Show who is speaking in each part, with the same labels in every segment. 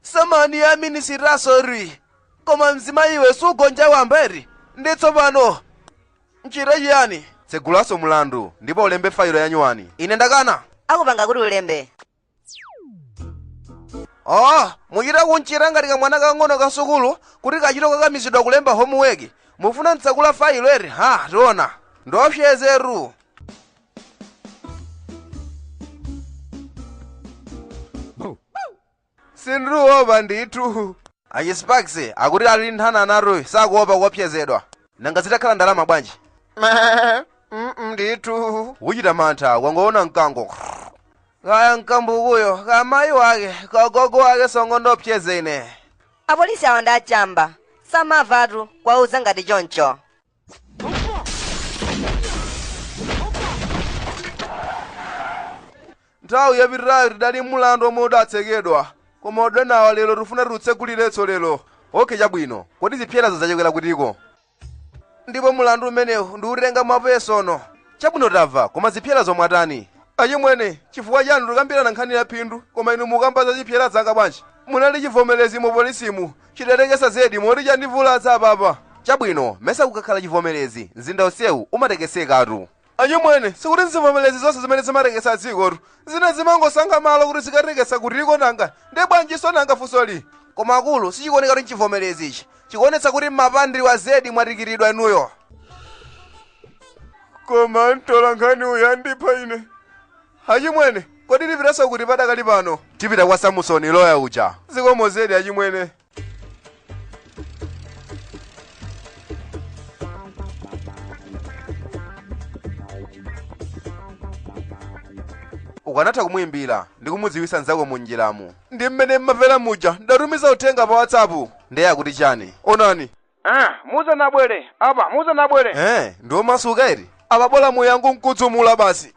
Speaker 1: samani ya minisita sori koma mzimayi iwe sugonja wamba eti ndi tsopano nchite chiyani tsegulanso mlandu ndipo ulembe failo ya nyuwani ine ndakana akupanga kuti ulembe oh muchita kunchita ngati kamwana kang'ono ka sukulu kuti kachita kukakamizidwa kulemba homuweki mufuna mtsegule failo eti ha tiona ndiopsezetu sindiruopa ndithu achisparks akuti ali nthana naruyi sakuopa kuopsezedwa nanga zitakhala ndalama bwanji Mm, ndithu uchita mantha wangoona mkango kaya mkambukuyo kamayi wake kagogo wake songo ndopseze ine apolisi awo ndi
Speaker 2: achamba samavatu kuwauza ngati choncho
Speaker 1: nthawi yapitayo tidali mulandu omwe udatsekedwa koma adonawa lero tifuna tiutsegulirenso lero okhe chabwino kodi zipserazo zachokera kutiko ndipo mulandu umenewu ndiutenga mwapesono chabwino tamva koma zipserazo mwatani achimwene chifukwa chanu tikambirana nkhani ya phindu koma inu mukamba za zipsera zanga bwanji munali chivomerezi mu polisimu Chidatekesa zedi moti chandivulaza apapa. Chabwino, mesa kukakhala chivomerezi, mzinda onsewu umatekesekatu. Achimwene, sikuti nzivomerezi zonse zimene zimatekesa dzikotu. Zina zimangosankha malo kuti zikatekesa kutiko nanga. Ndiye bwanjinso nanga funsoli? Koma akulu, sichikuoneka kuti nchivomerezi ichi. Chikuonetsa kuti mmapandidwa zedi mwatikitidwa inuyo. Koma mtolankhani uyu andipha ine. Achimwene, kodi tipitanso kuti padakali pano? Tipita kwa Samusoni, loya uja. Zikomo zedi achimwene. ukanatha kumuimbira ndi kumudziwitsa nzako mu njiramu ndi mmene mmamvera muja ndatumiza uthenga pa whatsapp ndiye akuti chani onani Eh, musanabwere apa, musanabwere. Eh, ndi omasuka eti. Apa bola muyangu nkudzumula basi.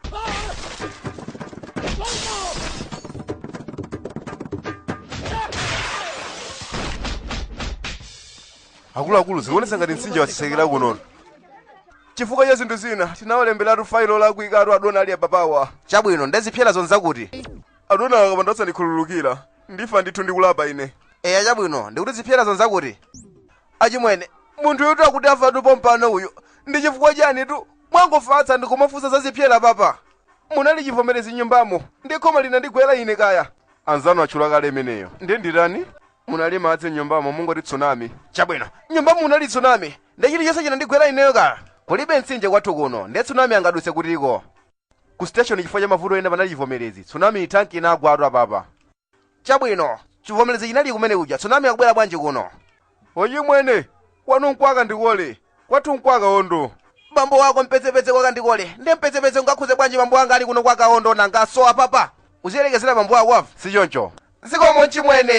Speaker 1: akuluakulu zikuonesa ngati mtsinje wasesekera kunono chifukwa cha zinthu zina tinawalemberatu failo lakuikatu adona ali ababawa chabwino nde zipserazo nzakuti adona akapanda osandikhululukira ndifa ndithu ndikulapa ine eya chabwino ndikuti zipserazo nzakuti achimwene munthuyutu akuti afatu pompano uyu ndi chifukwa chanitu mwangofatsa ndikumafunsa za zipsera apapa munali chivomerezi nyumbamo ndi khoma linandigwera ine kaya anzanu atchula kale imeneyo nde nditani munali madzi nyumbamo mungoti tsunami chabwino nyumbamo munali tsunami ndi chilichonse chinandigwera ineyo kaya kulibe mtsinje kwathu kuno nde tsunami angaduse kutiko ku station chifukwa cha mavuto ena panali chivomerezi tsunami tanki inagwatu apapa chabwino chivomerezi chinali kumene kuja tsunami akubwera bwanji kuno ochimwene kwanu nkwa kandikole kwathu nkwa kaondo bambo wako mpezepeze kwa kandikole ndi mpezepeze ungakhuze bwanji bambo wanga ali kuno kwa kaondo nanga so apapa uziyerekezera bambo wako wafa si choncho zikomo chimwene